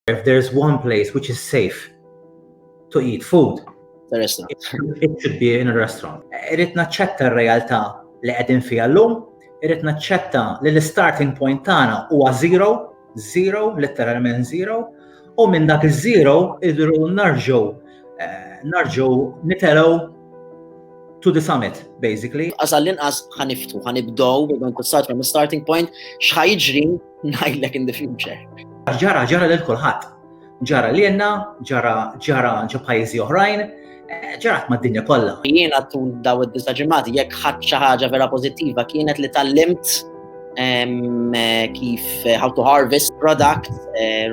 If there's one place which is safe to eat food, it should be in a restaurant. Irrit naċċetta r-realtà li qegħdin fiha llum, irrit naċċetta li l-starting point tagħna huwa zero, zero, literalment zero, u minn dak iż-zero idru narġgħu eh, narġgħu nitelgħu to the summit, basically. Għasal l-inqas ħaniftu, ħanibdow, għan kussat from starting point, xħajġri Ngħidlek in the future. Ġara, ġara lil kulħadd. Ġara lilna, ġara ġara ġo pajjiżi oħrajn, eh, ġarat mad-dinja kollha. Jiena tul daw id-disa ġimgħati jekk ħadd xi ħaġa vera pożittiva kienet li tallimt ehm, eh, kif eh, how to harvest product,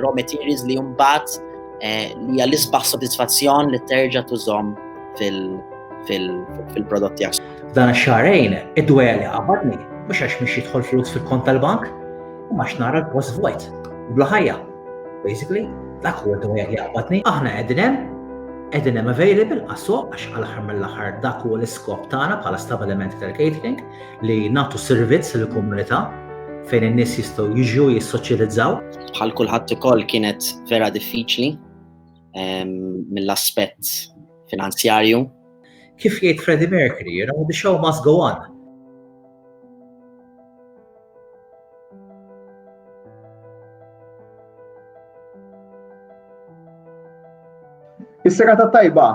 raw materials li jumbat li għal-isbaħ soddisfazzjon li terġa' tużom fil- fil-prodott tiegħek. F'dan ix-xahrejn, id-dwejjaq li qabadni, mhux għax mhix jidħol flus fil-kont tal-bank, imma għax nara l-post vojt, u bla ħajja. Basically, dak huwa d-dwejjaq li qabadni. Aħna qegħdin hemm, qegħdin hemm available għas-suq għax għall-aħħar mill-aħħar dak huwa l-iskop tagħna bħala stabilimenti tal-catering li nagħtu servizz lill-komunità fejn in-nies jistgħu jiġu jissoċjalizzaw. Bħal kulħadd ukoll kienet vera diffiċli ehm, mill-aspett finanzjarju Kif jgħid Freddie Mercury, you know, the show must go on. Is-serata tajba,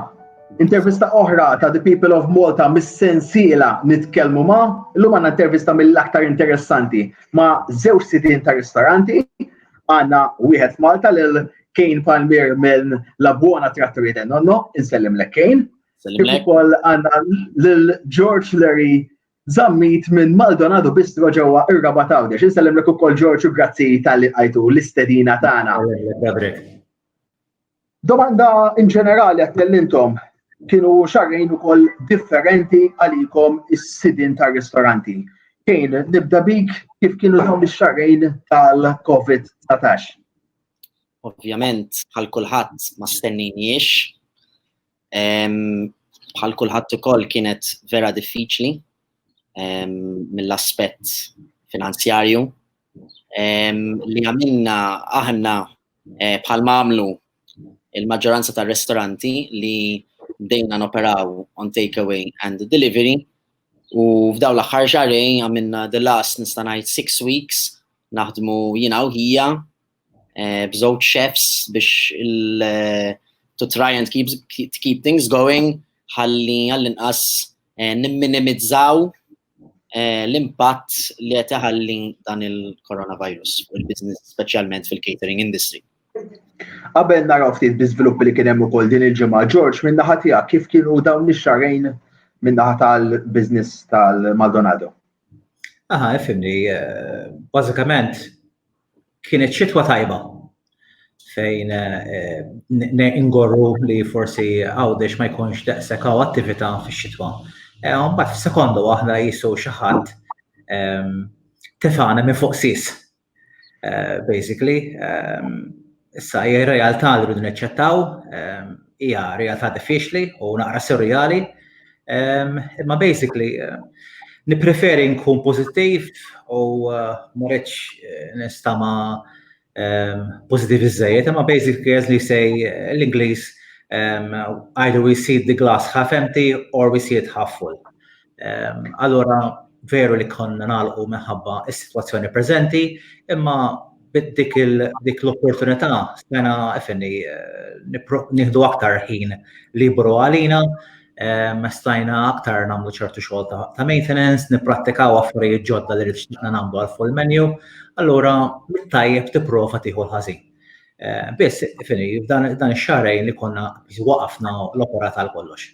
intervista oħra ta' The People of Malta mis-sensiela nitkellmu ma' l-lum għanna intervista mill-aktar interessanti ma' zewġ sidin ta' ristoranti għanna wieħed Malta l Kane Palmier minn La Buona Trattoria del Nonno, insellimlek Kane. Kif ukoll għandna lil George Larry Zammit minn Maldonado Bistro ġewwa ir-Rabat Għawdex. Insellimlek ukoll George u grazzi tal-li qajtu l-istedina tagħna. Domanda in ġenerali għat intom kienu xarrejn ukoll differenti għalikom is-sidin tar-ristoranti. Kejn, nibda bik kif kienu dawn ix-xarrejn tal-COVID-19? ovvjament bħal kulħadd ma stenninjiex. Bħal kulħadd ukoll kienet vera diffiċli mill-aspett finanzjarju li għamilna aħna eh, bħal mamlu il-maġġoranza tar-ristoranti li bdejna noperaw on takeaway and delivery u f'daw l-aħħar xarej għamilna the last nista' ngħid six weeks naħdmu jiena u ħija eh, b'żewġ chefs biex il- eh, to try and keep, to keep things going ħalli għall-inqas eh, nimminimizzaw l-impatt li qed iħalli dan il-coronavirus u l-business speċjalment fil-catering industry. Qabel naraw ftit biżviluppi li kien hemm ukoll din il-ġimgħa George minn naħa tiegħek kif kienu dawn ix-xarejn minn naħa tal-business tal-Maldonado? Aha, ifimni, bażikament kienet xitwa tajba fejn eh, ingorru li forsi għawdex ma jkunx daqsek għaw attività fi xitwa. Eh, mbagħad f'sekondu aħna jisu xi ħadd ehm, tefana minn fuq sis. Basically, issa hija r-realtà li rridu neċċettaw, hija realtà diffiċli u naqra surreali. Imma basically nippreferi nkun pożittiv u ma rridx nistama pożittiv iżejjed, imma basically as they say l-Ingliż either we see the glass half empty or we see it half full. Allura veru li konna nagħlqu minħabba s-sitwazzjoni preżenti, imma dik l-opportunità stajna ifenni nieħdu aktar ħin liberu għalina, stajna aktar nagħmlu ċertu xogħol ta' maintenance, nipprattikaw affarijiet ġodda li xtaqna nagħmlu għal Full Menu. Allura mit-tajjeb tipprova tieħu l-ħażin. Biss ifenni f'dan ix-xahrejn li konna waqafna l-operat għal kollox.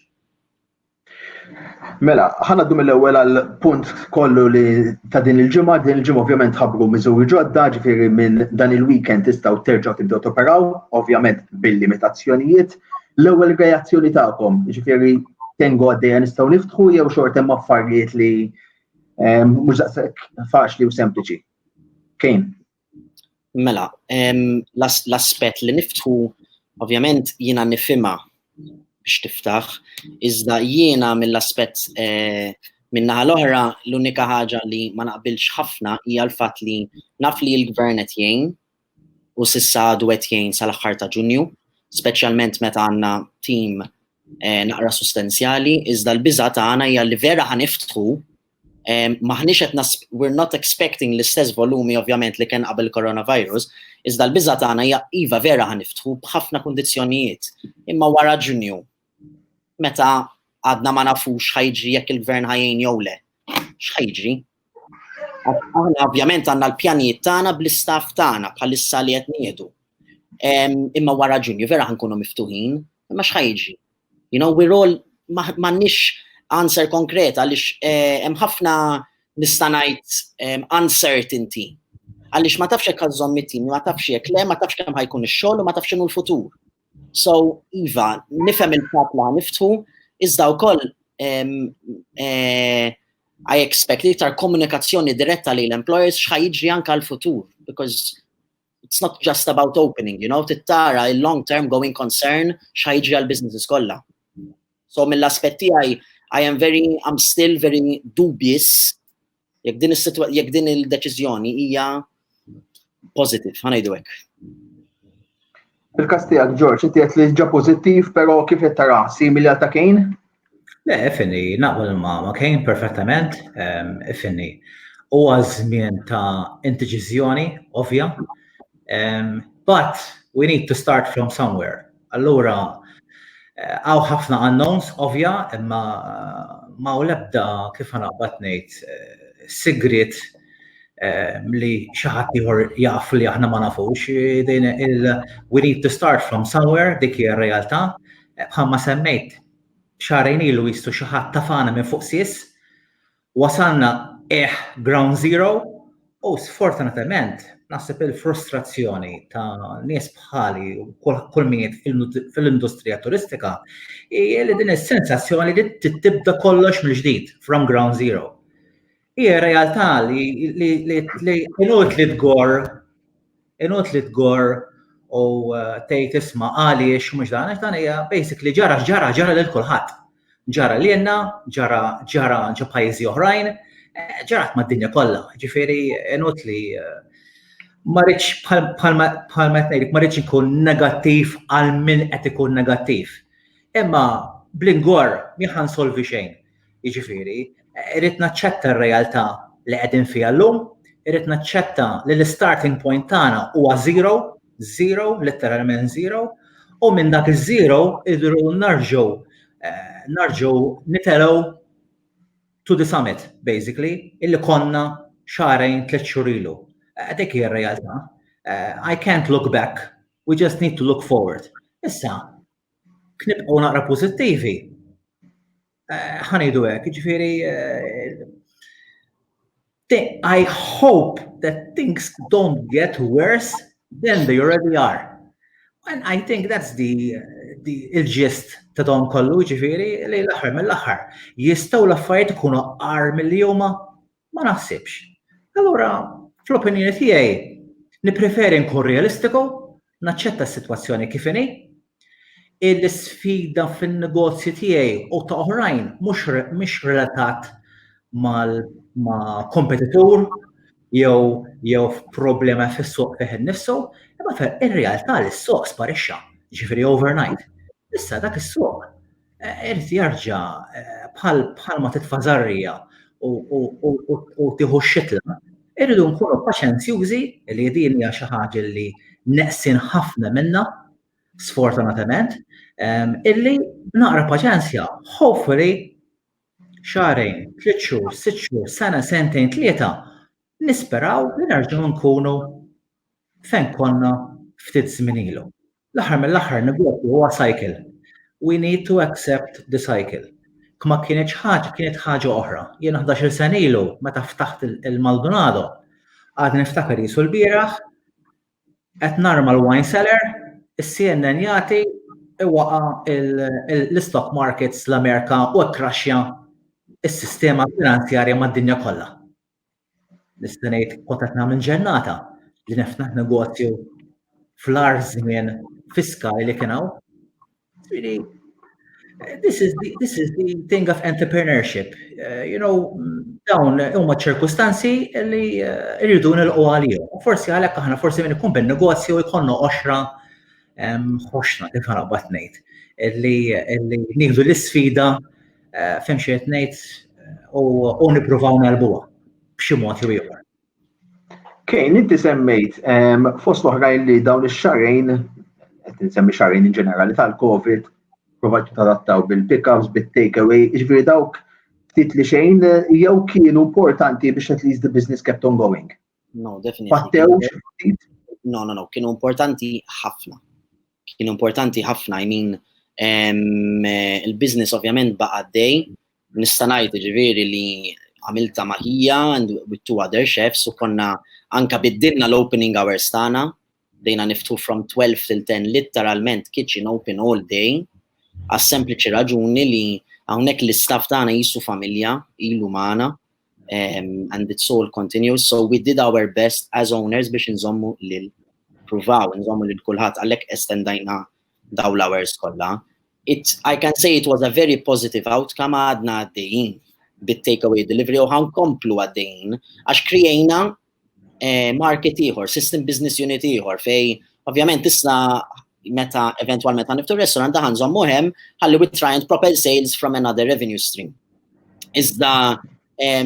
Mela, ħana dum l-ewwel għal punt kollu li ta' din il-ġimgħa, din il-ġimgħa ovvjament ħabru miżuri ġodda, ġifieri minn dan il-weekend tistgħu terġgħu tibdew toperaw, ovvjament bil-limitazzjonijiet. L-ewwel reazzjoni tagħkom, ġifieri tengu għaddejja nistgħu niftħu jew xorta hemm affarijiet li ehm, mhux daqshekk faċli u sempliċi. Kejn. Mela, l-aspett li niftħu ovvjament jiena nifhimha biex tiftaħ, iżda jiena mill-aspett eh, minnaħa l-oħra l-unika ħaġa li ma naqbilx ħafna hija l-fatt li naf li l-gvern qed jgħin u sissa għadu qed jgħin sal-aħħar ta' Ġunju, speċjalment meta għandna tim eh, naqra sustenzjali, iżda l-biża' tagħna hija li vera ħaniftħu Maħniex qed nas we're not expecting l-istess volumi ovvjament li kien qabel coronavirus, iżda l-biża' tagħna hija iva vera ħaniftħu b'ħafna kundizzjonijiet. Imma wara Ġunju, meta għadna ma nafux ħajġri jekk il-gvern ħajjin jew le, x'ħajġri? Aħna ovvjament għandna l-pjanijiet tagħna bl-istaff tagħna bħalissa li qed nieħdu. Imma wara Ġunju vera ħankunu miftuħin, imma x'ħajġri? You know, we're all m'għandniex answer konkret għaliex eh, hemm ħafna nista' ngħid eh, uncertainty. Għaliex ma tafx hekk għażhom mit-tim, ma tafx jekk le, ma tafx kemm ħajkun ix-xogħol u ma tafx inhu l-futur. So, Iva, nifhem il-pap la niftħu, iżda wkoll eh, I expect iktar komunikazzjoni diretta li l-employers xħajġri anka l-futur, because it's not just about opening, you know, tittara il-long term going concern xħajġi għal-businesses kolla. So mill-aspetti għaj, I am very, I'm still very dubious jek din jek din il-deċizjoni hija positive, ħanajdu hekk. Fil-kas tiegħek Ġorġ, qed jgħid li ġa pożittiv, però kif qed tara simili għal ta' Kane? Le, finni, naqbel ma' ma' Kane perfettament, ehm, finni. Huwa żmien ta' intiġiżjoni, ovvja. Ehm, but we need to start from somewhere. Allura, eh, għaw ħafna unknowns, ovvja, imma ma' u lebda kif ħanaqbad ngħid eh, sigrit li xi ħadd ieħor jaf li aħna ma nafux, din il we need to start from somewhere dik hija r-realtà. Bħalma semmejt xarejn ilu jistu xi ħadd tafana minn fuq sis, wasalna eh ground zero u sfortunatament naħseb il-frustrazzjoni ta' nies bħali u kull min fil-industrija turistika hija li din is-sensazzjoni li tibda kollox mill-ġdid from ground zero. Hija realtà li inut li tgor, inut li tgor u eh, tgħid isma' għaliex mhux dan għax dan hija basically ġara ġara ġara lil kulħadd. Ġara lilna, ġara ġara ġo pajjiżi oħrajn, eh, ġarat mad-dinja kollha. Ġifieri inut li eh, ma rridx bħal ma tgħidlek ma rridx ikun negattiv għal min qed ikun negattiv. Imma bl-ingor miħan solvi xejn. Jiġifieri, irrid naċċetta r-realtà li qegħdin fiha llum, irrid naċċetta li l-istarting point tagħna huwa zero, zero, litteralment zero, u minn dak iż-zero idru narġgħu eh, narġgħu nitelgħu to the summit, basically, illi konna xarajn tliet xhur ilu. Eh, dik hija r-realtà. Eh, I can't look back, we just need to look forward. Issa, Knibqgħu naqra pożittivi. Eh, ħanejdu hekk, jiġifieri eh, I hope that things don't get worse than they already are. And I think that's the, the il-ġist ta' dawn kollu ġifiri li l-axar mill-axar. Jistaw l-affarijiet ikunu għar mill-juma Ma naħsibx. Allura, fl-opinjoni tiegħi, nippreferi nkun realistiku, naċċetta s-sitwazzjoni kif inhi, il-sfida fin-negozju tiegħi u ta' oħrajn mhux relatat ma' kompetitur jew jew problema fis-suq fih innifsu, imma in-realtà li s-suq sparixxa, ġifieri overnight. Issa dak is-suq Irid jarġa' bħal ma titfa' żarrija u tieħu x-xitla, irridu nkunu paċenzjużi li din hija xi ħaġa li neqsin ħafna minnha, sfortunatament, illi b'naqra paċenzja, hopefully, xahrejn, tliet xhur, sitt xhur, sena, sentejn, tlieta, Nisperaw li nerġgħu nkunu fejn konna ftit żmien ilu. L-aħħar mill-aħħar negozju huwa cycle. We need to accept the cycle. Kma kienitx ħaġa, kienet ħaġa oħra. Jiena ħdax-il sena ilu meta ftaħt il-Maldonado, għadni niftakar qisu l-bieraħ, qed narma l-wine cellar, is-CNN jagħti iwaqa' l-istock markets l-Amerika u kkraxxja s-sistema finanzjarja mad-dinja kollha. nista' ngħid kont qed nagħmel ġennata li niftaħ negozju fl-ar żmien fiskali li kien hawn. Really, this is the, this is the thing of entrepreneurship. Uh, you know, dawn huma ċirkustanzi li uh, irridu uh, nilqu għalihom. Forsi għalhekk aħna forsi minn ikun bin-negozju jkollna oxra ħoxna kif ħarabat ngħid li nieħdu l-isfida Eh, fem xi qed ngħid u nippruvaw nelbuha b'xi mod jew ieħor. Kejn, inti semmejt fost oħrajn li dawn ix-xarejn, qed nsemmi xarejn in ġenerali tal-COVID, provajt tadattaw bil-pickups, bil-takeaway, ġifieri dawk ftit li xejn jew kienu importanti biex at least the business kept on going. No, definitely. Battew No, no, no, kienu importanti ħafna. Kienu importanti ħafna, I mean, eh, il-biznis ovvjament baqa dej, nistanajt ġiviri li għamilta maħija and with two other chefs u konna anka biddilna l-opening hours tana, bdejna niftħu from 12 till 10 litteralment kitchen open all day għas sempliċi raġuni li hawnhekk l-istaff tagħna jisu familja ilu magħna um, and it's all continuous so we did our best as owners biex nżommu lil pruvaw nżommu lil kulħadd għalhekk estendajna daw l-hours kollha. It, I can say it was a very positive outcome għadna għaddejjin bit-takeaway delivery u ħankomplu għaddejjin għax krijajna eh, market ieħor, system business unit ieħor fej ovvjament issa meta eventualment għan niftu restaurant daħan zommu hemm ħalli we try and propel sales from another revenue stream. Iżda eh,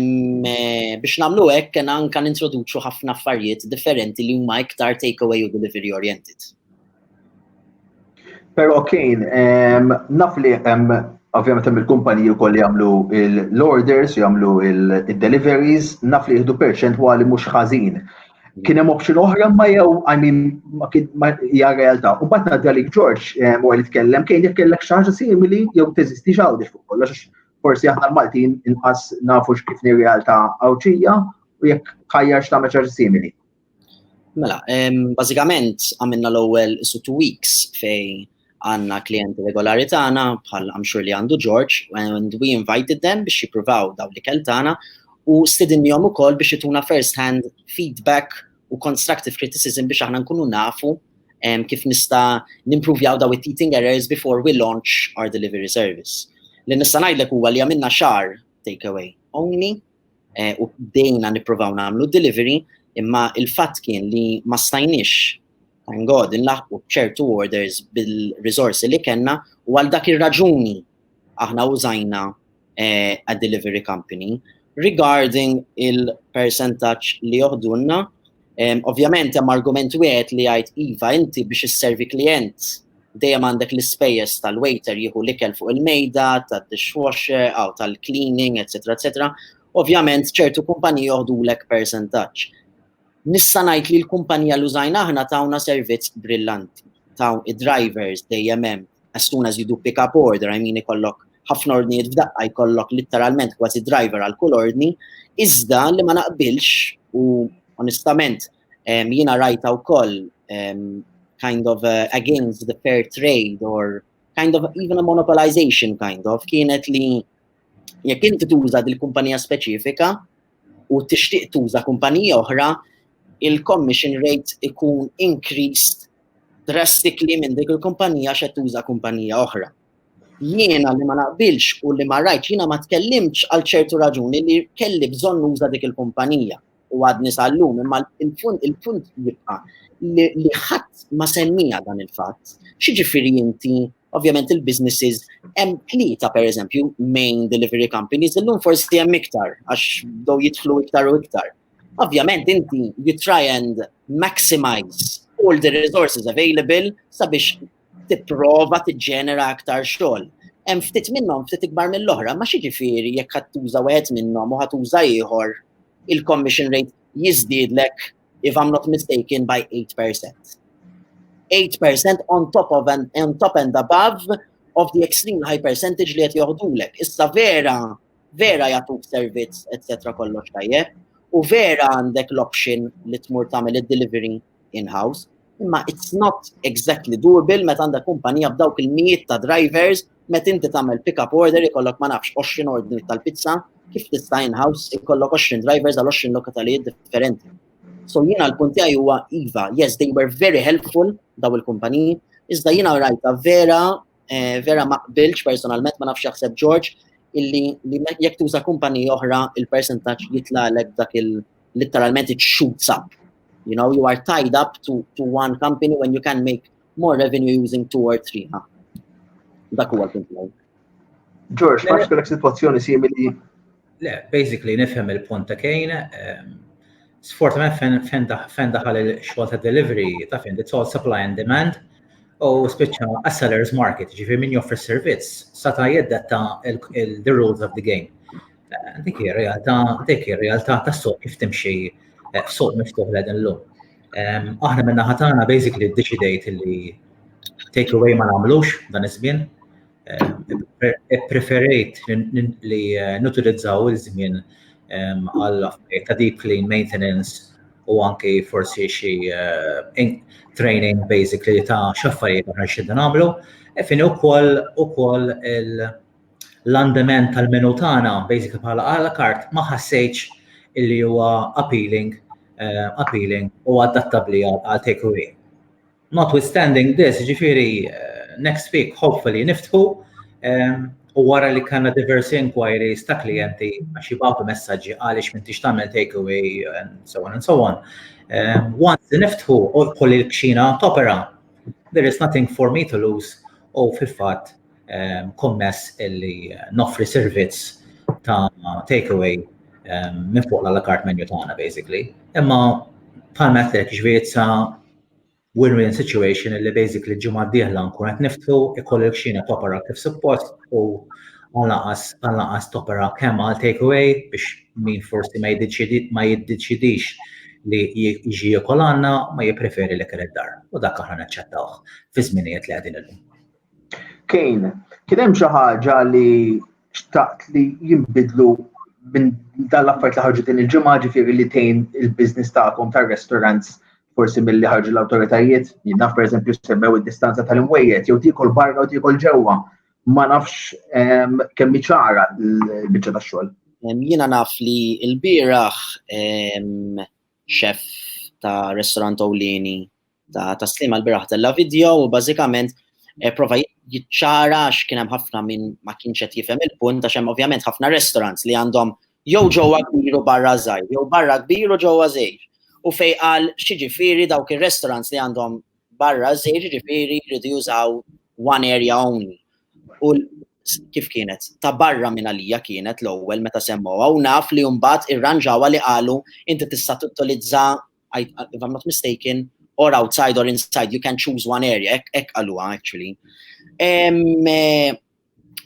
biex namlu hekk kena anka nintroduċu ħafna affarijiet differenti li huma iktar takeaway u delivery oriented. Però kien naf li hemm ovvjament hemm il-kumpaniji wkoll li jagħmlu l-orders, jagħmlu il-deliveries, naf li jieħdu perċentwali mhux ħażin. Kien hemm option oħra ma jew I mean ma kien ma hija realtà. U mbagħad ngħaddi għalik George u li tkellem kien jekk kellek xi ħaġa simili jew teżisti x'għawdex fuq kollox forsi aħna l-Maltin inqas nafu x'kif realtà għawċija u jekk ħajjar x'tagħmel xi simili. Mela, bażikament għamilna l-ewwel isu two weeks fej għanna klienti regolari tagħna bħal għamxur li għandu George and we invited them biex jippruvaw daw li kell tagħna u stidinjom ukoll biex jituna first hand feedback u constructive criticism biex aħna nkunu nafu um, kif nista nimprovjaw daw it-teething errors before we launch our delivery service. Li nista ngħidlek huwa li għamilna xar takeaway only eh, u bdejna nippruvaw nagħmlu delivery, imma il-fatt kien li ma stajniex thank God inlaħqu ċertu orders bil-risorsi li kellna u għal dak ir-raġuni aħna użajna eh, a delivery company regarding il-percentaċ li joħdunna Ovvjament hemm argument wieħed li jgħid iva inti biex isservi klijent dejjem għandek l-ispejjeż tal-waiter jieħu l-ikel fuq il-mejda, tad-dishwasher, aw tal-cleaning, etc. etc. Ovvjament ċertu kumpaniji joħdulek percentaġġ. Nista' ngħid li l-kumpanija li użajna aħna tawna servizz brillanti. Taw id-drivers dejjem hemm as soon as you do pick up order, I mean ikollok ħafna ordnijiet f'daqqa jkollok litteralment kważi driver għal kull ordni, iżda li ma naqbilx u onestament jiena rajta wkoll kind of uh, against the fair trade or kind of even a monopolization kind of kienet li jekk inti tuża dil-kumpanija speċifika u tixtieq tuża kumpanija oħra, il-commission rate ikun increased drastically minn dik il-kumpanija xe tuża kumpanija oħra. jiena li ma naqbilx u li ma rajtx jiena ma tkellimtx għal ċertu raġuni li kelli bżonn nuża dik il-kumpanija u għadni sal-lum imma il-punt il-punt jibqa' li ħadd ma semmija dan il-fatt. Xiġifieri inti ovvjament il-businesses hemm tlieta pereżempju main delivery companies illum forsi hemm iktar għax do jidħlu iktar u iktar. Ovvjament inti you try and maximize all the resources available sabiex tipprova tiġġenera aktar xogħol. Hemm ftit minnhom ftit ikbar mill-oħra, ma xiġifieri jekk ħadd tuża wieħed minnhom u ħadd tuża ieħor il-commission rate jiżdiedlek if I'm not mistaken by 8%. 8% on top of and, on top and above of the extreme high percentage li qed joħdulek. Issa vera vera jagħtuk servizz etc. kollox tajjeb u vera għandek l-option li tmur tagħmel id-delivery in-house, imma it's not exactly doable meta għandha kumpanija b'dawk il-mijiet ta' drivers meta inti tagħmel pick-up order ikollok ma nafx 20 ordni tal-pizza kif tista' in-house ikollok 20 drivers għal 20 lokatalijiet differenti. So jiena l-punt tiegħi huwa iva, yes they were very helpful daw il-kumpaniji, iżda jiena rajta vera Eh, vera ma qbilx personalment ma nafx jaħseb George illi li jekk tuża kumpani oħra il-percentaġġ jitlalek dak il literalment it shoots up. You know, you are tied up to, to one company when you can make more revenue using two or three. Huh? Dak huwa l-punt. George, ma xkolek situazzjoni simili Le, basically nifhem il-punt ta' Kane. Ehm, sfortunatament fejn daħal il-xogħol ta' delivery ta' fejn it's all supply and demand u spiċċa a seller's market, ġifi min joffri servizz sata' jeddetta the rules of the game. Eh, dik hi realtà, dik hi realtà tas-suq kif timxi eh, suq miftuħ l illum. Ehm, aħna minna ħatana basically ddeċidejt li take away ma nagħmlux dan iż-żmien preferejt li eh, nutilizzaw il-żmien għal ta' deep clean maintenance u anki forsi xi eh, training basically ta' xaffarijiet għan xidda nagħmlu. E fin ukoll ukoll l-andament tal-menu tagħna basically bħala għala kart ma ħassejtx illi huwa appealing eh, appealing u adattabbli għal takeaway. Notwithstanding this, ġifiri, eh, next week hopefully niftħu eh, u wara li kanna diversi inquiries ta' klienti għax jibgħatu messaġġi għaliex minn tix tagħmel takeaway and so on and so on. Eh, once li niftħu u kolli l-kxina topera, there is nothing for me to lose u fil-fatt kommess illi noffri servizz ta' takeaway minn fuq l-alakart menu tagħna basically. Imma bħal mettek ġviri win-win situation illi basically l-ġimgħa d-dieħla nkun qed niftħu ikoll il-kxina topera kif suppost u għanaqas għanaqas topera kemm għal takeaway biex min forsi ma jiddeċidix li jiġi jekol għanna ma jipreferi li kien id-dar u dak aħna naċċettawh fi żminijiet li qegħdin illum. Kejn, kien hemm xi ħaġa li xtaqt li jinbidlu minn dan l-affarijiet li ħarġu din il-ġimgħa ġifieri li tejn il-business tagħkom tar-restaurants forsi milli ħarġu l-awtoritajiet, jinnaf per eżempju semmew id-distanza tal-imwejjed, jew tikol barra u tikol ġewwa, ma nafx ehm, kemm ċara l-biċċa tax-xogħol. Ehm, jiena naf li l-bieraħ ehm, xef ta' restaurant Owlini ta' taslima l-bieraħ tella video u bażikament eh, prova jiċċara għax kien hemm ħafna minn ma kienx qed jifhem il-punt għax hemm ovvjament ħafna restaurants li għandhom Jew ġewwa kbir u barra żgħir, jew barra kbir u ġewwa żgħir. U fejn qal x'jiġifieri dawk ir-restaurants li għandhom barra żgħir jiġifieri jridu jużaw one area only. U kif kienet? Ta' barra minn għalija kienet l-ewwel meta semmgħuha u naf li mbagħad irranġawha li qalu inti tista' tuttilizza if I'm not mistaken or outside or inside you can choose one area hekk qaluha actually. Eh,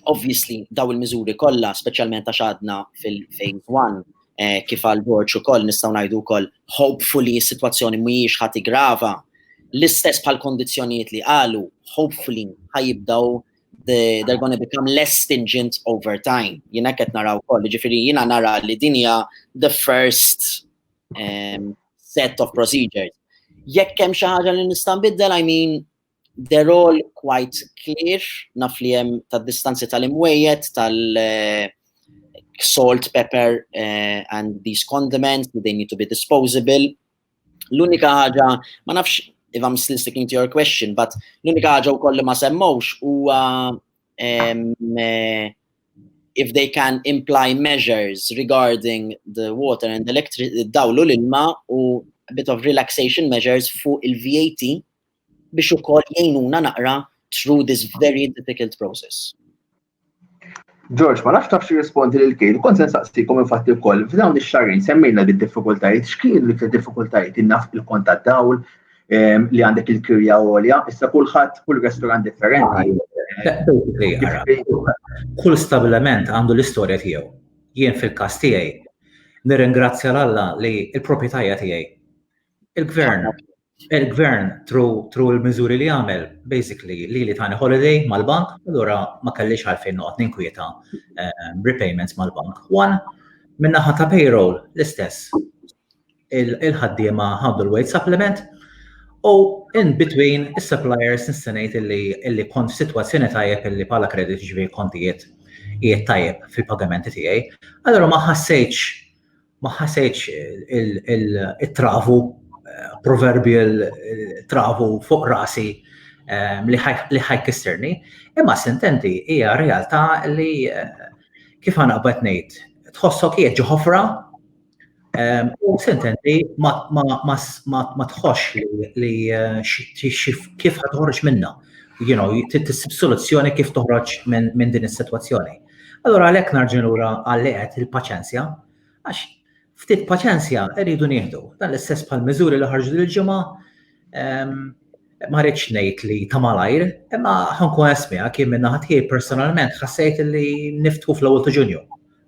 Obviously, daw il-miżuri kollha, speċjalment għax għadna fil-phase 1, eh, kif għal borċ ukoll nistgħu ngħidu wkoll hopefully s-sitwazzjoni mhijiex ħati grava, l-istess bħal kondizzjonijiet li qalu, hopefully ħajibdaw they, they're going to become less stingent over time. Jina qed naraw koll, ġifiri jina nara li dinja the first um, set of procedures. Jekk hemm xi ħaġa li nista' nbiddel, I mean, They're all quite clear, naf li hemm tad-distanzi tal-imwejjed, tal-salt, eh, pepper uh, and these condiments, they need to be disposable. L-unika ħaġa, ma nafx if I'm still sticking to your question, but l-unika ħaġa u kolli ma semmawx u uh, um, uh, if they can imply measures regarding the water and electric dawlu l-ilma u a bit of relaxation measures fuq il-VAT biex ukoll jgħinuna naqra through this very difficult process. George, ma nafx tafx rispondi lil kien, kont nsaqsikom infatti wkoll f'dawn ix-xarrin semmejna li diffikultajiet x'kien li diffikultajiet innaf il-kont tad-dawl ehm, li għandek il-kirja għolja, issa kulħadd kull restorant differenti. Kull stabilament għandu l-istorja tiegħu. Jien fil-każ tiegħi nirringrazzja l-Alla li l-proprjetajja tiegħi il-gvern Il-gvern tru l-miżuri li għamel, basically, li li tani holiday mal-bank, allura ma kellix għalfejn noqgħod ninkwieta ehm, repayments mal-bank. One, minnaħa ta' payroll l-istess. Il-ħaddiema ħaddu l-wage supplement u in between is-suppliers nistenejt illi kont f'sitwazzjoni tajjeb illi bħala kredit ġivi kontijiet jiet tajjeb fil-pagamenti tiegħi. Allura ma ħassejtx ma ħasejtx il-travu, proverbial travu fuq rasi ehm, li ħajkisserni, imma sententi hija realtà li eh, kif għana qbet ngħid, tħossok hija ġoħofra ehm, u sententi ma tħossx li eh, kif ħatħorġ minna, you know, soluzzjoni kif toħroġ minn din is-sitwazzjoni. Allura għalhekk narġa' lura għal li qed il-paċenzja, għax ftit paċenzja rridu nieħdu. Dan l-istess bħal miżuri li ħarġu l-ġimgħa ehm, ma rridx ngħid li ta' malajr, imma ħankun esmiha kien minn ħadd personalment ħassejt li niftħu fl-ewwel ta' Ġunju.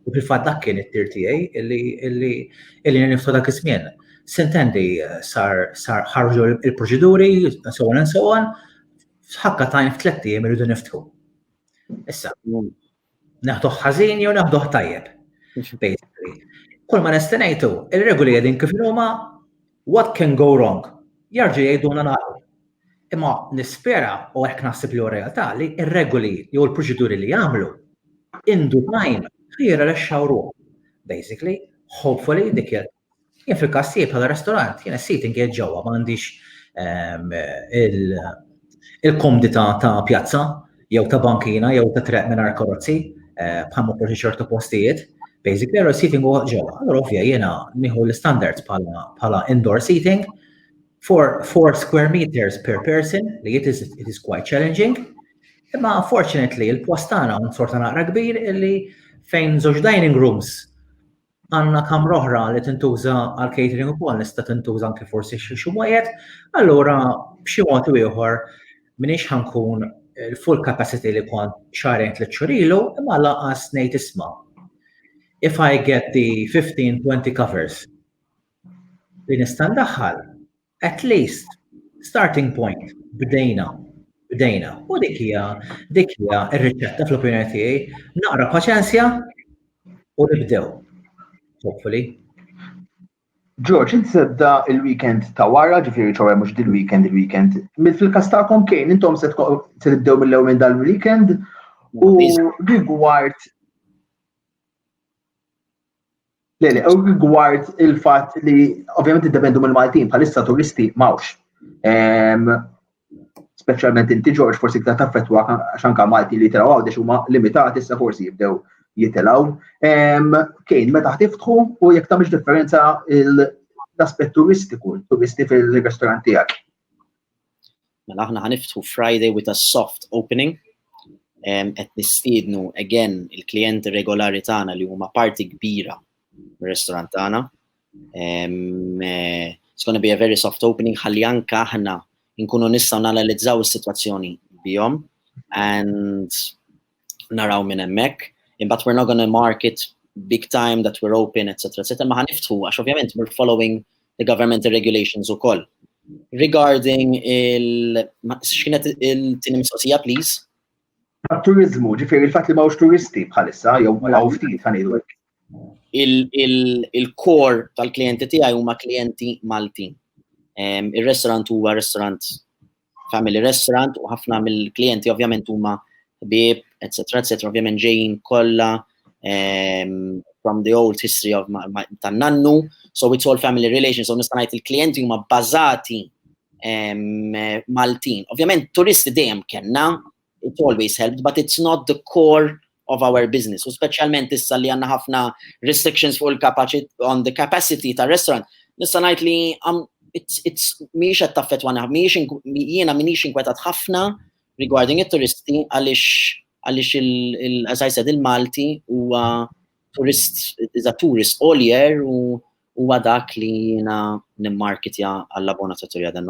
U fil-fatt dak kien it-tir tiegħi illi niftħu dak iż-żmien. Sintendi sar ħarġu il-proċeduri, so on and so on, ħakka tajn f'tlettijiem irridu niftħu. Issa, naħduh ħażin jew naħduh tajjeb. Basically. Kull ma nestenajtu, il-regoli għedin kif huma what can go wrong? Jarġu jgħiduna nagħlqu. Imma nispera u hekk naħseb li realtà li ir-regoli jew il-proċeduri li jagħmlu indu time ħira li xawru. Basically, hopefully dik Jien fil-każ tiegħi bħala restorant, jien is-sit inqiegħed ġewwa ma għandix ehm, il-komdità ta' pjazza jew ta' bankina jew ta' treq mingħajr karozzi eh, bħal ma xi ċertu postijiet. Basic error seating huwa ġewwa. Allura ovvja jiena nieħu l-standards bħala indoor seating for 4 square meters per person li it is, it is quite challenging. Imma unfortunately il-post tagħna un sorta naqra kbir illi fejn żewġ dining rooms għandna kamra oħra li tintuża għal catering ukoll nista' tintuża anke forsi xi xi wieħed, allura b'xi mod u ieħor minix ħankun il-full eh, capacity li kont xarejn tliet xurilu, imma laqas ngħid isma. If I get the 15-20 covers li nista' ndaħħal, At least, starting point, bdejna, bdejna. U dik hija, dik hija r-riċetta fl-opinjoni tiegħi, naqra paċenzja u nibdew. Hopefully. George, inti tibda il-weekend ta' wara, ġifiri ċoħe mux dil-weekend, il-weekend. Mil fil-kas ta'kom kejn, intom se tibdew mill-lew minn dal-weekend u rigward Le, le, rigward il-fat li ovvjament id-dependu mill-Maltin bħalissa turisti mawx. Speċjalment inti Ġorġ forsi ktar taffettwa xanka Malti li tiraw għawdex huma limitati issa forsi jibdew jitilaw. Kejn, meta ħtiftħu u jekk tagħmilx differenza l-aspett turistiku, turisti fil-restorant tiegħek. Mela aħna ħaniftħu Friday with a soft opening. Qed nistiednu again il-klijenti regolari tagħna li huma parti kbira mir-restaurant tagħna. Eh, it's gonna be a very soft opening ħalli anka aħna nkunu nistgħu nanalizzaw is-sitwazzjoni bihom and naraw minn hemmhekk, imbagħad we're not gonna market big time that we're open, etc. etc. Ma ħaniftħu, għax ovvjament we're following the governmental regulations ukoll. Regarding il... x'kienet il-tieni mistoqsija, please? Turizmu, ġifieri il-fatt li mawx turisti bħalissa, jew mawx ftit ħanidu il-kor tal-klienti tiegħi huma klienti Maltin. Ir-restaurant huwa restaurant family restaurant u ħafna mill-klijenti ovvjament huma bib, etc. etc. ovvjament ġejjin kollha um, from the old history of tan nannu, so it's all family relations, so nista' ngħid il-klijenti huma bbażati um, Maltin. Ovvjament turisti dejjem kellna, It always helped, but it's not the core of our business. U speċjalment issa li għandna ħafna restrictions fuq il-capacity on the capacity ta' restaurant, nista' ngħid li um, mhijiex qed taffettwana, jiena m'iniex inkwetat ħafna regarding it-turisti għaliex għaliex il-as I said il-Malti huwa turist, is a tourist all year u huwa dak li jiena nimmarketja għall-abona ta' Turja dan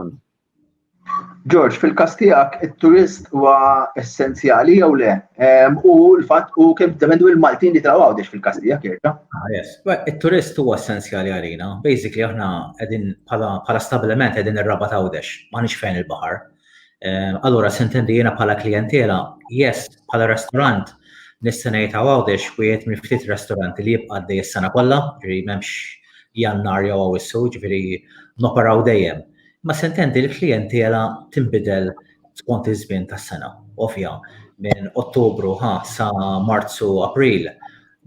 George, fil-kas tiegħek it-turist huwa essenzjali jew le? U l-fatt u kemm dependu il-Maltin li traw għawdex fil-kas tiegħek jerġa'. Ah, yes. It-turist huwa essenzjali għalina. Basically aħna qegħdin bħala stabbiliment qegħdin ir-rabat għawdex, m'għandix fejn il-baħar. Allura sintendi jiena bħala klijentela, yes, bħala restaurant nista' ngħid għawdex wieħed minn ftit restoranti li jibqa' għaddej is-sena kollha, ġifieri m'hemmx jannar jew awissu, ġifieri noperaw dejjem. Ma sentendi l-klijentiela tinbidel skont iż-żmien tas-sena. Ovvja, minn Ottubru ħa sa Marzu April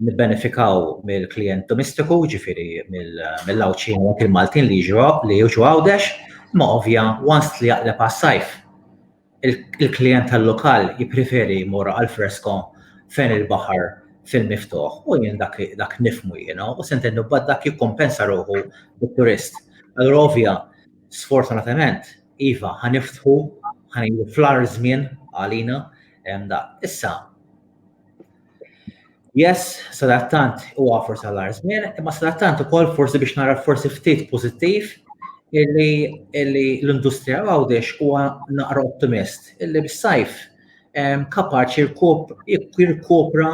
nibbenefikaw mill-klijent domestiku, ġifieri mill-Għawdxin u anki l-Maltin li jiġu Għawdex, imma ovvja once li jaqleb għas-sajf il-klijent tal-lokal jippreferi jmur għal fresko fejn il-baħar fil-miftuħ u jien dak nifmu jiena u se ntennu bad dak jikkumpensa ruħu bit-turist. Allura ovvja, sfortunatament, iva ħaniftħu ħanejdu fl-ar żmien għalina hemm dak. Issa, Yes, sadattant u għafur sal-arzmin, imma sadattant u kol forsi biex nara forsi ftit pozittiv illi l-industrija għawdex u naqra optimist illi bis-sajf kapaċi jirkopra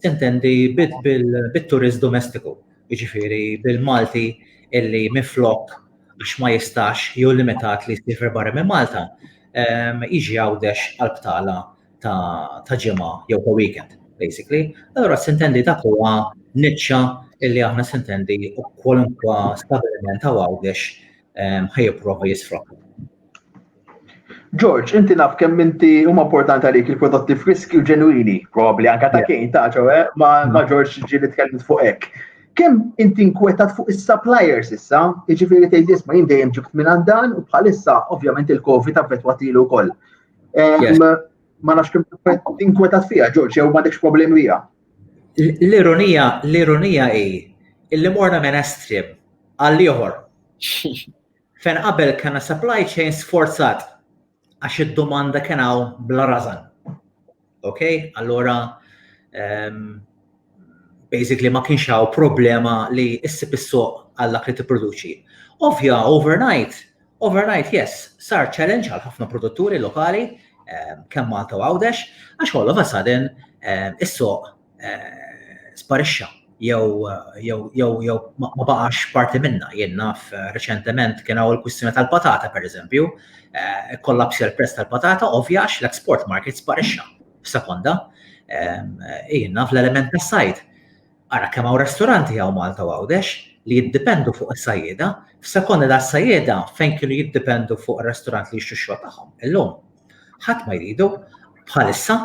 tintendi bil-turist domestiku, iġifiri bil-Malti illi miflok biex ma jistax jew limitat li jistifir barra minn Malta, iġi għawdex għal-btala ta' ġimgħa jew ta' weekend, basically. Allura sintendi ta' huwa niċċa illi aħna sintendi u kwalunkwa stabiliment ta' għawdex ehm, ħajipprova jisfrokku. George, inti naf kemm inti huma importanti għalik il-prodotti friski u ġenwini, probabbli anka ta' kejn ta' ċewe, eh? ma' mm. George ġieli tkellimt fuq hekk. Kemm inti nkwetat fuq is-suppliers issa, jiġifieri tgħid isma' jien dejjem ġibt minn dan u bħalissa ovvjament il-COVID affettwatilu wkoll. Ma nafx kemm tinkwetat fiha, Ġorġ, jew m'għandekx problemi biha. L-ironija, l-ironija hi illi morna minn estrim għal ieħor. Fejn qabel kellna supply chain sforzat għax id-domanda kien hawn bla rażan. Ok? Allora, um, basically ma kienx hawn problema li issib is-suq għal dak li tipproduċi. Ovvja, overnight, overnight, yes, sar challenge għal ħafna produtturi lokali, um, kemm Malta u Għawdex, għax all of a sudden um, is-suq eh, sparixxa jew jew jew jew ma baqax parti minna jien naf eh, reċentement kien hawn il-kwistjoni tal-patata pereżempju, eh, kollapsja l-prezz tal-patata ovvja għax l-export market sparixxa f'sekonda. Ehm, jien naf l-element tas-sajd. Ara kemm hawn restoranti hawn Malta u Għawdex li jiddependu fuq is-sajjeda, f'sekonda da sajjeda fejn kienu jiddependu fuq ir-restorant li jixtru xogħol tagħhom. Illum Ħadd ma jridu. Bħalissa,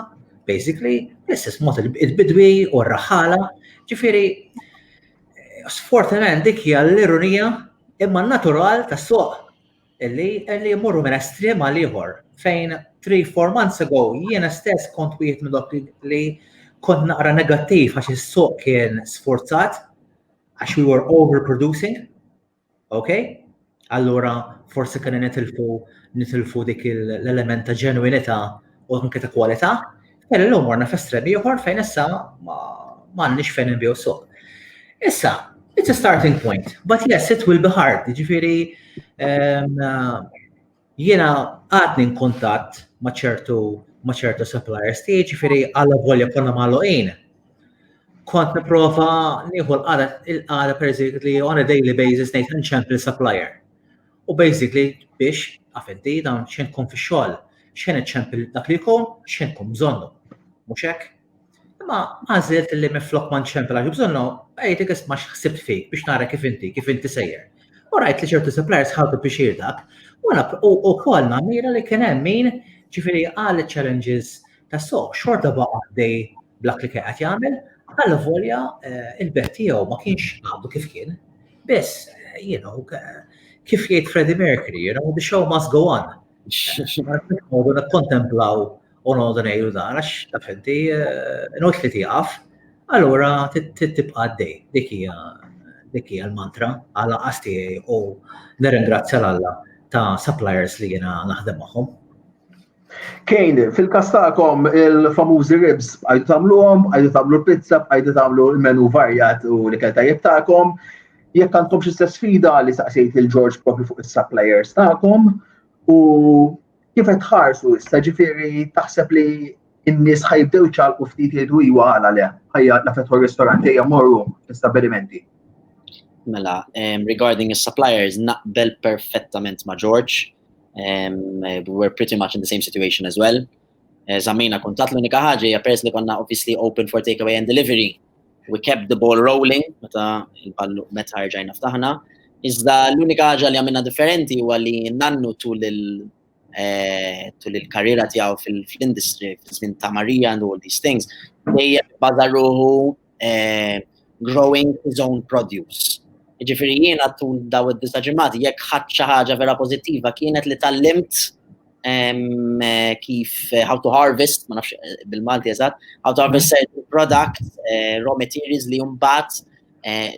basically, l-istess mod il-bidwi u r-raħala. Ġifieri, sfortunament dik hija l-ironija imma natural tas-suq illi illi jmorru minn estrem għal ieħor fejn 3-4 months ago jiena stess kont wieħed minn dok li kont naqra negattiv għax is-suq kien sforzat għax we were overproducing Okay? Allura forsi kien nitilfu nitilfu dik l-element ta' ġenwinità u anke ta' kwalità, per illum warna f'estrem ieħor fejn issa m'għandniex fejn inbiju suq. Issa, it's a starting point, but yes, it will be hard, ġifieri ehm, Jiena għadni nkuntatt ma' ċertu ma' ċertu suppliers tiegħi ġifieri għal volja konna magħluqin. Kont nipprova nieħu l-qara il-qara basically on a daily basis ngħid inċempli supplier. U basically biex għafenti dawn xejn tkun fix-xogħol, xejn iċċempil dak li jkun, xejn tkun bżonnu. Mhux hekk? Imma għażilt li minflok ma nċempel għax bżonnu, għajtek isma' x'ħsibt fik biex nara kif inti, kif inti sejjer. U rajt li ċertu suppliers ħadu biex dak, u wkoll namira li kien hemm min ġifieri għal challenges ta' soq xorta baqa' għaddej blak li kienet jagħmel, għal volja eh, il-bet tiegħu ma kienx għadu kif kien. Biss, eh, you know, kif jgħid Freddie Mercury, you know, the show must go on. Għadu kontemplaw u noqogħdu ngħidu dan għax taf inti eh, not li tieqaf, allura tibqa' għaddej. Dik hija dik hija l-mantra għal qas tiegħi u nirringrazzja l Alla ta' suppliers li jiena naħdem magħhom. Kejn, fil-kas tagħkom il-famużi ribs bqajdu tagħmluhom, bqajdu tagħmlu pizza, bqajdu tagħmlu l-menu varjat u li ikel tajjeb tagħkom. Jekk għandkom xi sfida li saqsejt il-Ġorġ propju fuq is-suppliers tagħkom u Kif qed tħarsu issa ġifieri taħseb li n-nies ħajbdew ċalqu ftit jgħidu iwa għala le, ħajja la fetħu r-ristoranti ejja morru l-istabbilimenti. Mela, um, regarding the suppliers, naqbel perfettament ma' George. Um, we're pretty much in the same situation as well. Eh, Zammina kuntat l-unika ħaġa hija pers li konna obviously open for takeaway and delivery. we kept the ball rolling meta il-ballu meta rġajna ftaħna. Iżda l-unika ħaġa li għamilna differenti huwa li nannu tul il eh, tul il-karriera tiegħu fil-industry, fil-żmien ta' Marija and all these things, dejjem baża ruħu eh, growing his own produce. Ġifieri jiena tul daw id-disa ġimgħati jekk ħadd xi ħaġa vera pożittiva kienet li tallimt kif eh, how to harvest, ma nafx eh, bil-Malti eżatt, how to harvest mhm. certain product, eh, raw materials li jumbat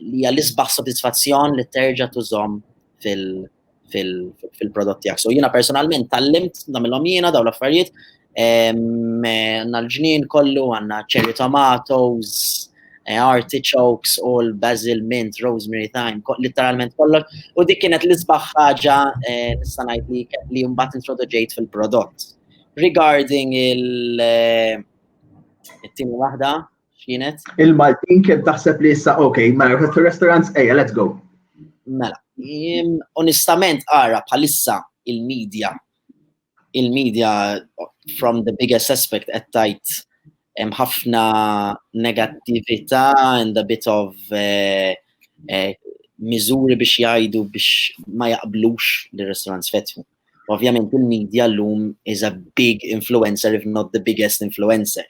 li għal-isbaħ soddisfazzjon li terġa tużom fil-prodott tijak. So jina personalment tal-limt namillom jina daw l-affarijiet, għanna l-ġnien kollu, għanna cherry tomatoes, eh, artichokes, all, basil, mint, rosemary, thyme, literalment kollox. U dik kienet l-isbaħ ħaġa eh, nista' ngħid li li mbagħad introduġejt fil-prodott. Regarding il- eh, it-tieni waħda, x'kienet? Il-Maltin kien taħseb li issa ok, mela restaurants ejja, let's go. Mela, onestament ara bħalissa il-medja il-media from the biggest aspect qed tajt hemm ħafna negattività and a bit of uh, uh, miżuri biex jgħidu biex ma jaqblux li restaurants fetħu. Ovvjament il-medja l-lum is a big influencer, if not the biggest influencer.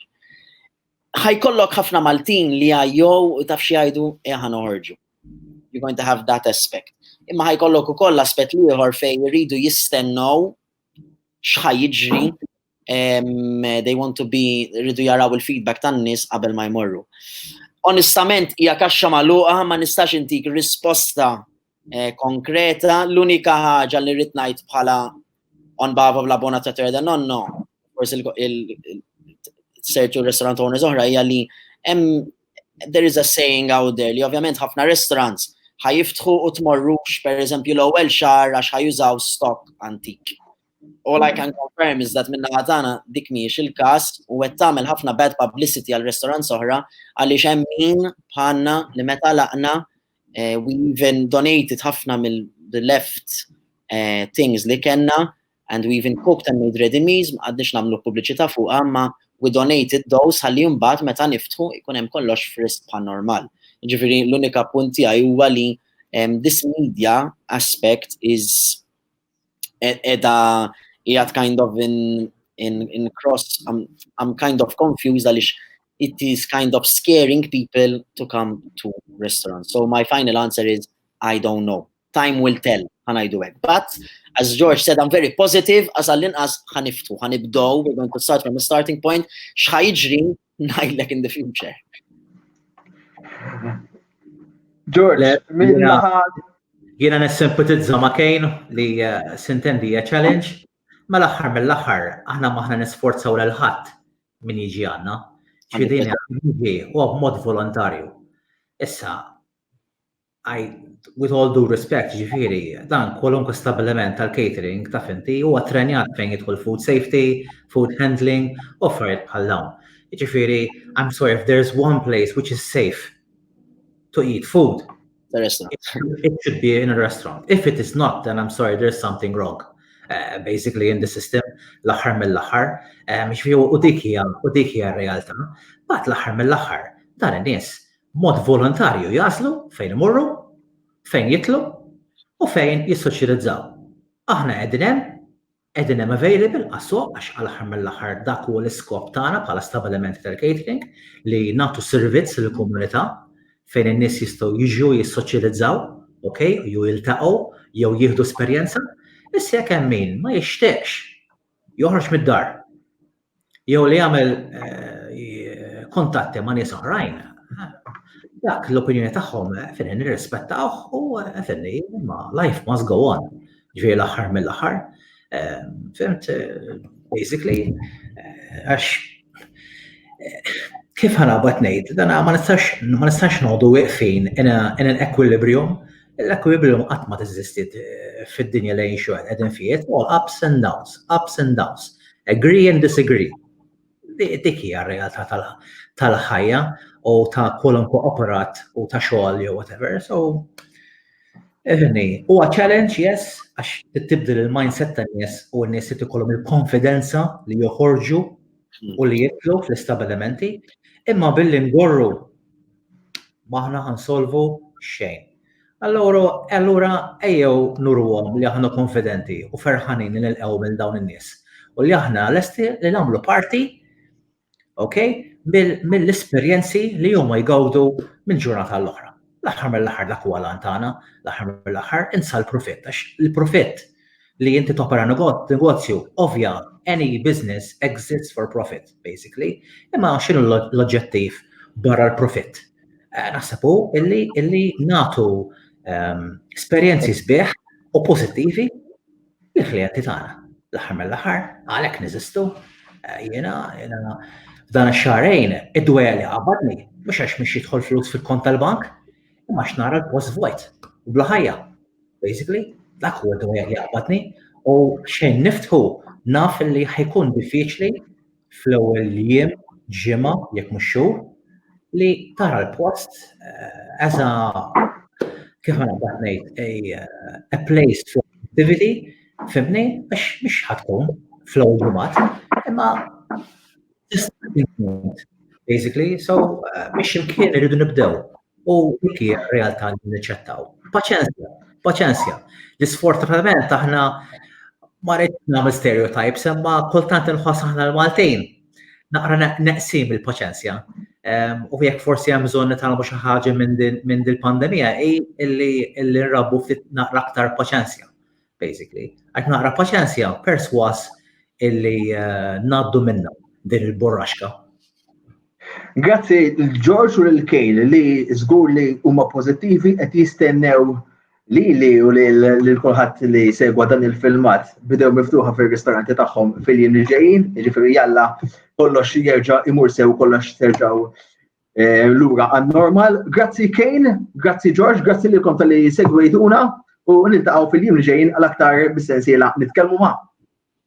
Ħajkollok ħafna Maltin li għajjow u taf xi jgħidu eħan eh, uħorġu. you're going to have that aspect. Imma ħajkollok ukoll aspett ieħor fejn iridu jistennew x'ħaj jiġri they want to be iridu jaraw il-feedback tan-nies qabel ma jmorru. Onestament hija kaxxa magħluqa ma nistax intik risposta eh, konkreta, l-unika ħaġa li rrid ngħid bħala on bava bla bona ta' terda nonno, forsi il-sertu restaurant owners oħra hija li hemm there is a saying out there li ovvjament ħafna restaurants ħajiftħu u tmorrux per eżempju l-ewwel xahar għax ħajużaw stock antik. All I can confirm is that minna ħatana dik miex il-kas u għed tamel ħafna bad publicity għal restaurants oħra għalli xem min bħanna li meta laqna eh, we even donated ħafna mill-left eh, things li kena and we even cooked and made ready meals, ma qgħadniex nagħmlu pubbliċità fuqha imma we donated those ħalli mbagħad meta niftħu jkun hemm kollox frisk bħal normal. Ġifieri l-unika punt tiegħi huwa li um, this media aspect is e-, edha jgħat kind of in, in, in cross, I'm, I'm kind of confused għalix it is kind of scaring people to come to restaurants. So my final answer is I don't know. time will tell, ħanajdu hekk. But, as George said, I'm very positive, as għall-inqas ħaniftu, ħanibdow, we're going to start from a starting point, xħajġri najdlek in the future. George, minna ħad. Jena nessempatizza ma' Kane li eh, sintendi challenge, ma mela l-axħar mill-axħar, aħna maħna nisforzaw l-ħat minn jiġi għanna, ċvidini għanna u għab mod volontarju. Issa, With all due respect, ġifieri, dan kwalunkwe stabbiliment tal-catering taf inti huwa ttrenjat fejn jidħol food safety, food handling, u affarijiet bħal dawn. Ġifieri, I am sorry if there is one place which is safe to eat food, it should be in a restaurant. If it is not, then I am sorry there is something wrong basically in the system l-aħħar mill-aħħar. Ġifieri, u dik hija r-realtà. Mbagħad l-aħħar mill-aħħar, dan in-nies b'mod volontarju jaslu fejn imorru, fejn jitlu u fejn jissoċjalizzaw. Aħna qegħdin hemm, qegħdin hemm available għas-suq għax għall-aħħar mill-aħħar dak huwa l-iskop tagħna bħala stabilimenti tal-catering li nagħtu servizz lill-komunità fejn in-nies jistgħu jiġu jissoċjalizzaw, okay, jew jiltaqgħu jew jieħdu esperjenza. Issa jekk hemm min ma jixtieqx joħroġ mid-dar jew li jagħmel eh, kontatti ma' nies oħrajn, dak l-opinjoni tagħhom eh, fin nirrispettawh u eh, fin ma life must go on. Ġifieri l-aħħar mill-aħħar. Fimt, basically, għax kif ħana bat ngħid, dan ma nistax ma nistax noqogħdu wieqfin in an equilibrium L-equilibrium qatt ma teżistiet eh, fid-dinja li jinxu għal qegħdin fih, it's all ups and downs, ups and downs, agree and disagree. Dik hija r-realtà tal-ħajja u ta' kwalunkwe operat u ta' xogħol jew whatever. So, Evni, u challenge, yes, għax tibdil il-mindset ta' nies u n-nies jt ikollhom il-konfidenza li joħorġu u li jitlu fl-istabilimenti, imma billi ngorru M'aħna ħansolvu xejn. Allura, allura ejjew nuruhom li aħna konfidenti u ferħanin li nilqgħu minn dawn in-nies u li aħna lesti li nagħmlu parti ok, mill-esperjenzi li huma jgawdu minn ġurnata l-oħra. L-aħħar mill-aħħar dak huwa lan tagħna, l-aħħar mill-aħħar insa l-profitt għax il-profitt li inti topera negozju, ovvja, any business exists for profit, basically, imma xinu l-oġġettiv barra l-profit? Eh, naħseb u illi natu ehm, esperienzi sbieħ u pozittivi l-klienti tagħna. L-aħħar mill-aħħar, għalhekk niżistu, eh, jiena jiena dan ix-xarejn id-dwejja li qabadni, mhux għax mhix jidħol flus fil-kont tal-bank, imma x'nara l-post vojt u bla ħajja. Basically, dak huwa dwar li jaqbadni u xejn niftħu naf li ħajkun diffiċli fl-ewwel jiem ġimgħa jekk mhux xhur li tara l-post eh, as a kif għana ngħid a place for activity fimni għax mhux ħatkun fl-ewwel ġimgħat imma Basically, so biex uh, imkien irridu nibdew. U dik hija realtà li niċċettaw. Paċenzja, paċenzja. L-isfortunatament aħna ma rridx nagħmel stereotypes, imma kultant inħoss aħna l-Maltin naqra neqsim il-paċenzja. Ehm, u jekk forsi hemm bżonn nitalmu xi ħaġa minn dil-pandemija hi illi nrabbu ftit naqra aktar paċenzja. basically. Qed naqra paċenzja perswas illi eh, ngħaddu minna din il-burraxka. Grazzi l-Ġorġ u l-Kejl li żgur li huma pożittivi qed jistennew li li u li l-kulħadd li segwa dan il-filmat bidew miftuħa fil-ristoranti tagħhom fil-jiem li ġejjin, jiġifieri jalla kollox jerġa' imur sew kollox terġgħu Eh, lura għan normal. Grazzi Kane, grazzi George, grazzi li konta li segwejtuna u niltaqgħu fil-jiem ġejn għal aktar bis-sensiela nitkellmu ma'.